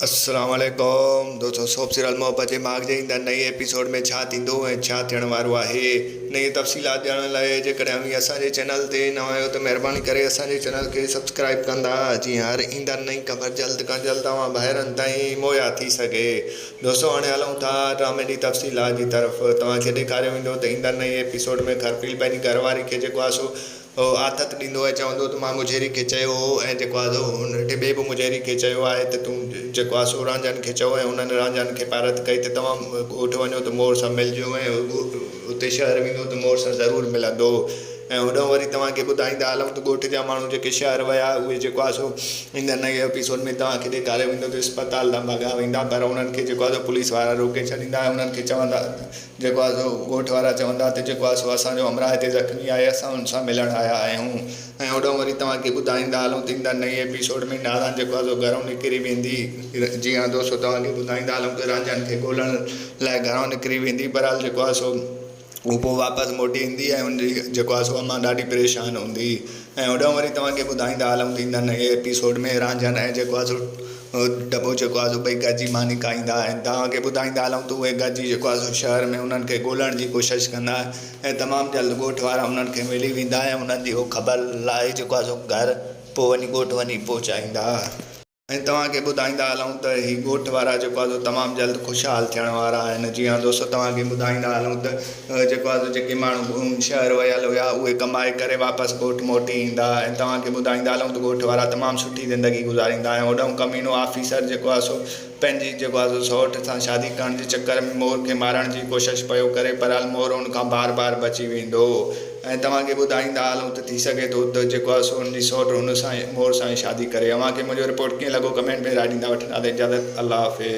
اسلام عليڪم دوستو سوپ سيريل محبت جي ماڳ جي ايندڙ نئين ايپيسوڊ ۾ ڇا ٿيندو ۽ ڇا ٿيڻ وارو آهي انهي جي تفصيلات ڄاڻڻ لاء جيڪڏهن اوهين اسان جي چينل تي نوان آهيو ته مهرباني ڪري اسان جي چينل کي سبسڪرائيب ڪندا جيئن هر ايندڙ نئين خبر جلد کان جلد اوهان ڀائرن تائين مهيا ٿي سگهي دوستو هاڻي هلون ٿا ڊرامي جي تفصيلات جي طرف توهان کي ڏيکاريو ويندو ته ايندڙ نئين ايپيسوڊ ۾ خرپيل پنهنجي گهر واري کي جيڪو آسو هو آٿت ڏيندو ۽ چوندو هو ته مان مجهري کي چيو هو ۽ جيڪو آڌو هن ٽي ٻئي به مجهري کي چيو آهي ته تون جيڪو آ سو رانجهن کي چئو ۽ انهن رانجهن کي پارت ڪئي ته توهان ڳوٺ وڃو ته مور سان ملجو ۽ هو اتي شهر ويندو ته مور سان ضرور ملندو ۽ هوڏانهن وري توهان کي ٻڌائيندا هلون ته ڳوٺ جا ماڻهو جيڪي شهر ويا اهي جيڪو آ سو ايندڙ نئين ايپيسوڊ ۾ توهان کي ڏيکاريو ويندو ته اسپتال ڏانهن ڀڳا ويندا پر انهن کي جيڪو آ سو پوليس وارا روڪي ڇڏيندا ۽ انهن کي چوندا جيڪو آ سو ڳوٺ وارا چوندا ته جيڪو آ سو اسان جو همراهه هتي زخمي آهي اسان ان سان ملڻ آيا آهيون ۽ هوڏانهن وري توهان کي ٻڌائيندا هلون ته ايندڙ نئين ايپيسوڊ ۾ ناران جيڪو آ سو گهرون نڪري ويندي جي ها دوستو توهان کي ٻڌائيندا هلون ته رانجهان کي ڳولڻ لاء گهرون نڪري ويندي بهرحال جيڪو آ سو هو پوء واپس موٽي ايندي ۽ ان جي جيڪو آ سو امان ڏاڍي پريشان هوندي. ۽ هوڏانهن وري توهان کي ٻڌائيندا هلون ته ايندڙ نئين ايپيسوڊ ۾ رانجهن ۽ جيڪو آزو ڊٻو جيڪو آزو ٻئي گڏجي ماني کائيندا آهن توهان کي ٻڌائيندا هلون ته اهي گڏجي جيڪو آزو شهر ۾ انهن کي ڳولڻ جي ڪوشش ڪندا آهن ۽ تمام جلد ڳوٺ وارا انهن کي ملي ويندا ۽ انهن جي اهو خبر لاهي جيڪو آزو گهر پوء وڃي ڳوٺ وڃي پهچائيندا. ۽ توهان کي ٻڌائيندا هلون ته هي ڳوٺ وارا جيڪو آهي سو تمام جلد خوشحال ٿيڻ وارا آهن جي ها دوستو توهان کي ٻڌائيندا هلون ته جيڪو آهي سو جيڪي ماڻهو شهر ويل هيا اهي ڪمائي ڪري واپس ڳوٺ موٽي ايندا ۽ توهان کي ٻڌائيندا هلون ته ڳوٺ وارا تمام سٺي زندگي گذاريندا ۽ هوڏهون ڪمينو آفيسر جيڪو آهي سو پنهنجي جيڪو آهي سو سئوٽ سان شادي ڪرڻ جي چڪر ۾ مور کي مارڻ جي ڪوشش پيو ڪري بهرحال مور ان کان بار بار بچي ويندو ۽ توهان کي ٻڌائيندا هلون ته ٿي سگهي ٿو ته جيڪو آهي سو ان جي سئوٽ هن سان مور سان ئي شادي ڪري. اوهان کي منهنجو رپورٽ ڪيئن لڳو ڪمينٽ ۾ راء ڏيندا وٺندا ته اجازت الله حافظ.